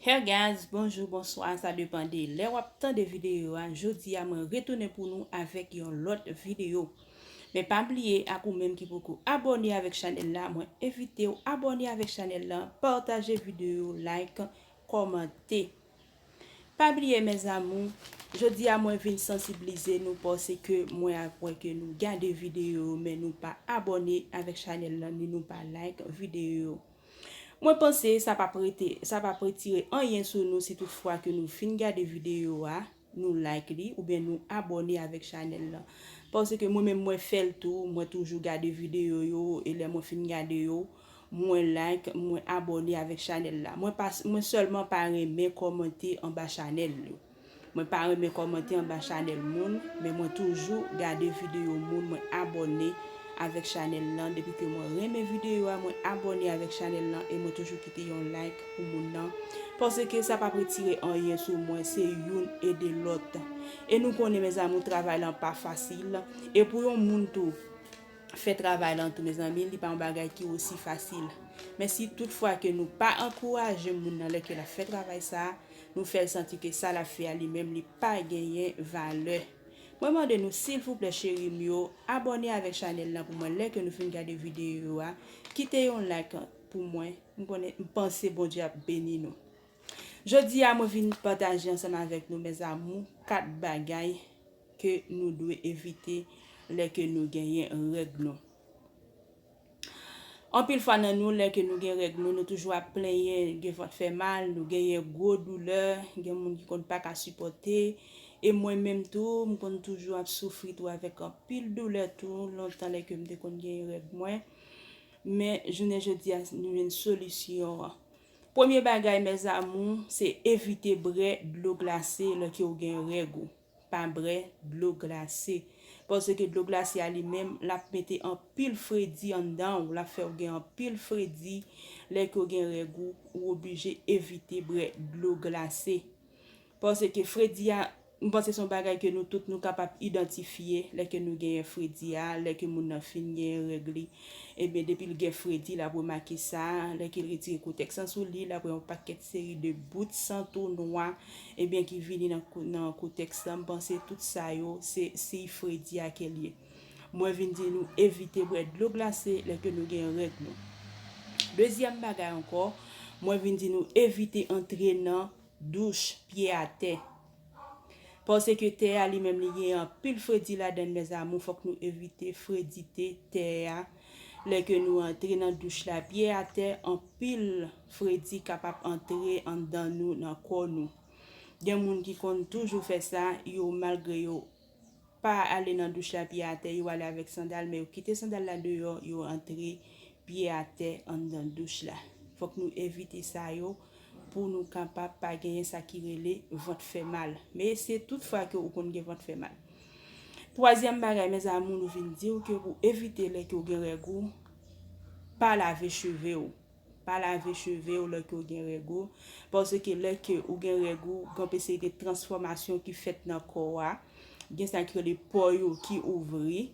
Her guys bonjou bonswa sa depan de lè wap tande videyo a jodi a mwen retounen pou nou avèk yon lòt videyo men pa bliye ak ou menm ki poko abòne avèk chanèl la mwen evite ou abòne avèk chanèl la pataje videyo like kòmante pa bliye mèzamou jodi a mwen vin sansibilize nou pòse ke mwen ak wè ke nou gade videyo men nou pa abòne avèk chanèl la ni nou pa like videyo yo. Mwen panse sa pap rete, sa pap retire anyen sou nou si tout fwa ke nou fin gade videyo a, nou like li oubyen nou abòne avèk chanèl lan. Paske mwen menm mwen fèl tou, mwen toujou gade videyo yo e lè mwen fin gade yo, mwen like, mwen abòne avèk chanèl la. Mwen pa, mwen sèlman pa renmen kòmante anba chanèl yo. Mwen pa renmen kòmante anba chanèl moun men mwen toujou gade video moun mwen abòne avèk chanèl lan depi ke mwen renmen video a mwen abòne avèk chanèl lan e mwen toujou kite yon like pou moun nan paske sa pap retire anyen sou mwen se youn ede lòt e nou konnen mes amour travay lan pa fasil e pou yon moun tou fè travay lan tou mezanmi li pa yon bagay ki osi fasil men si tout fwa ke nou pa ankouraje moun nan lè ke lap fè travay sa. Nou fèl santi ke sa lap fè a li menm li pa genyen valè. Mwen mande nou silvouplè cheri m yo abòne avèk chanèl lan pou mwen lè ke nou fin gade videyo yo a kite yon like pou mwen m konnen m panse Bondye ap beni nou. Jodi a mwen vin pataje ansanm avèk nou mes amours 4 bagay ke nou dwe evite lè ke nou genyen règ nou. Anpil fwa nan nou lè ke nou gen règ nou, nou toujou ap plenyen gen vant fè mal, nou genyen gwo doulè, gen moun ki konn pa ka sipòte, e mwen menm tou m konn toujou ap soufri tou avèk anpil doulè tou lontan lè ke m te konn genyen règ mwen, men jounen jodi a nou jwenn solisyon an. Premye bagay mèzamou se evite bre dlo glase lè ke ou gen règ ou. Pa brè dlo glase. Paske dlo glase a li menm l ap mete anpil fredi anndan ou, l ap fè ou gen anpil fredi lè ke w gen règ ou, ou oblije evite brè dlo glase. Paske fredi a, m panse se yon bagay ke nou tout nou kapab idantifye lè ke nou genyen fredi a, lè ke moun nan fin genyen règ li, ebyen depi l gen fredi l ap remake sa, lè ke l retire kotèks lan sou li, l ap wè yon pakèt seri de bout san tou nwa Ebyen ki vini nan kou tèks la, m panse tout sa yo se siy fredi a ke l ye. Mwen vin di nou evite bwè dlo glase lè ke nou gen règ nou. Dezyèm bagay ankò, mwen vin di nou evite antre nan douch pye atè. Pase ke tè a li menm li gen anpil fredi ladan l mes amour fòk nou evite fredite tè a lè ke nou antre nan douch la pye atè anpil. Fredi kapab antre anndan nou nan kò nou. Gen moun ki konn toujou fè sa, yo malgre yo pa ale nan douch la pye atè, yo ale avèk sandal men yo kite sandal la deyò, yo antre pye atè anndan douch la. Fòk nou evite sa yo pou nou kapab pa genyen sa ki rele vant fè mal. Men se tout fwa ke ou konn gen vant fè mal. Twazyèm bagay mes amour nou vin diw ke pou evite lè ke ou gen règ ou pa lave cheve ou. Pa lave cheve w lè ke w gen règ ou, paske lè ke ou gen règ ou, gen yon serite transfòmasyon ki fèt nan kò a, gen sa ki rele pò yo ki ouvri,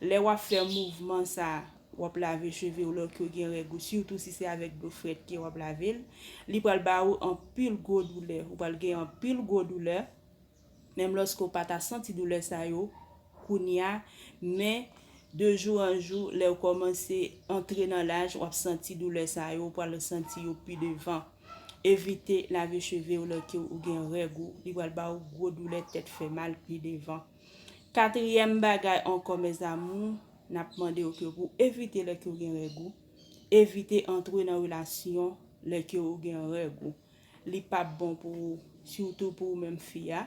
lè wap fè mouvman sa, wap lave cheve w lè ke w gen règ ou, sitou si se avèk dlo frèt ke wap lave l, li pral ba ou anpil gwo doulè, ou pral gen anpil gwo doulè, Menm lòske ou pa ta santi doulè sa yo kounye a, men de jou an jou, lè ou kòmanse antre nan laj, w ap santi doulè sa yo, ou pral resanti yo pi devan. Evite lave cheve ou lòke ou gen règ ou, li pral ba ou gwo doulè tèt fè mal pi devan. Katriyèm bagay ankò mèzamou, n ap mande ou ke pou w evite lòke ou gen règ ou, evite antre nan relasyon lòke ou gen règ ou. li pap bon pou ou sitou pou ou menm fi a,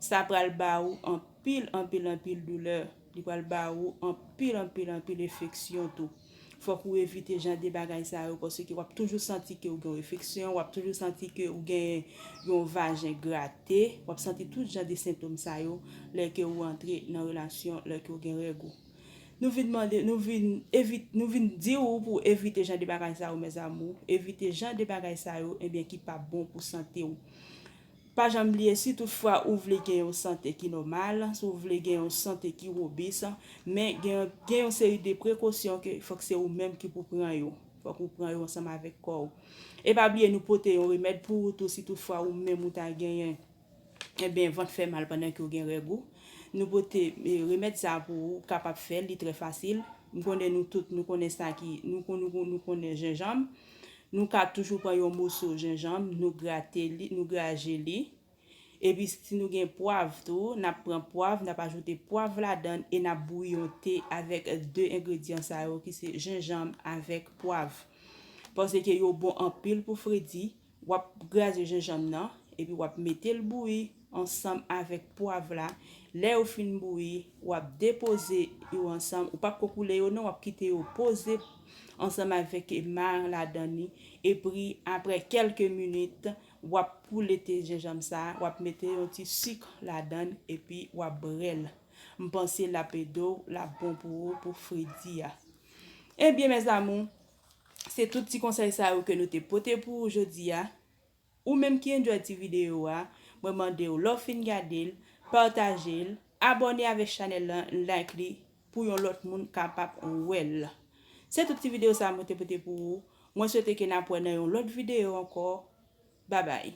sa pral ba ou anpil anpil anpil doulè, li pral ba ou anpil anpil anpil efeksyon tou, fòk ou evite jan de bagay sa yo paske wap toujou santi ke ou gen yon efeksyon, wap toujou santi ke ou gen yon vajen grate, wap santi tout jan de sentom sa yo lè ke ou antre nan relasyon lè ke ou gen règ ou. Nou vin mande, nou vin evite, nou vin di ou pou w evite jan de bagay sa yo mes amour, evite jan de bagay sa yo ebyen ki pap bon pou sante w. Pa janm bliye si tout fwa ou vle gen yon sante ki nòmal, si w vle gen yon sante ki robis, men gen yon gen yon seri de prekosyon ke fòk se ou menm ki pou pran yo, fòk ou pran yo ansanm avèk kò w. E pa bliye nou pote yon remèd pou ou tou si tout fwa ou menm ou ta genyen. Ebyen vant fè mal pandan ke w gen règ ou Nou pote remèd sa a pou ou ou kapab fè l li trè fasil M konnen nou tout nou konnen sa ki Nou konnen nou konnen jenjanm Nou ka toujou pran yon moso jenjanm nou grate li nou graje li Epi si nou gen pwav tou n ap pran pwav n ap ajoute pwav ladan l e n ap bouyi yon te avèk de engredyan sa yo ki se jenjanm avèk pwav Paske yo bon anpil pou fredi Wap graze jenjanm nan epi wap metel bouyi ansanm avèk pwav la lè yo fin bouyi wap depoze yo ansanm ou pap ko koule yo non wap kite yo poze ansanm avèk mar ladan li epri aprè kelke minit wap koule te jenjanm sa wap mete yon ti sik ladann epi wap brel mpanse lap edew lap bon pou ou pou fredi a ebyen mes amour Se tout ti konsèy sa yo ke nou te pote pou ou jodi a. Ou menm ki enjoy ti videyo a, mwen mande ou lè w fin gade l, pataje l, abòne avèk chanèl lan, like li pou yon lòt moun kapab wè l. Se tout ti videyo sa mwen te pote pou ou. Mwen swete ke n ap wè nan yon lòt videyo ankò. Babay!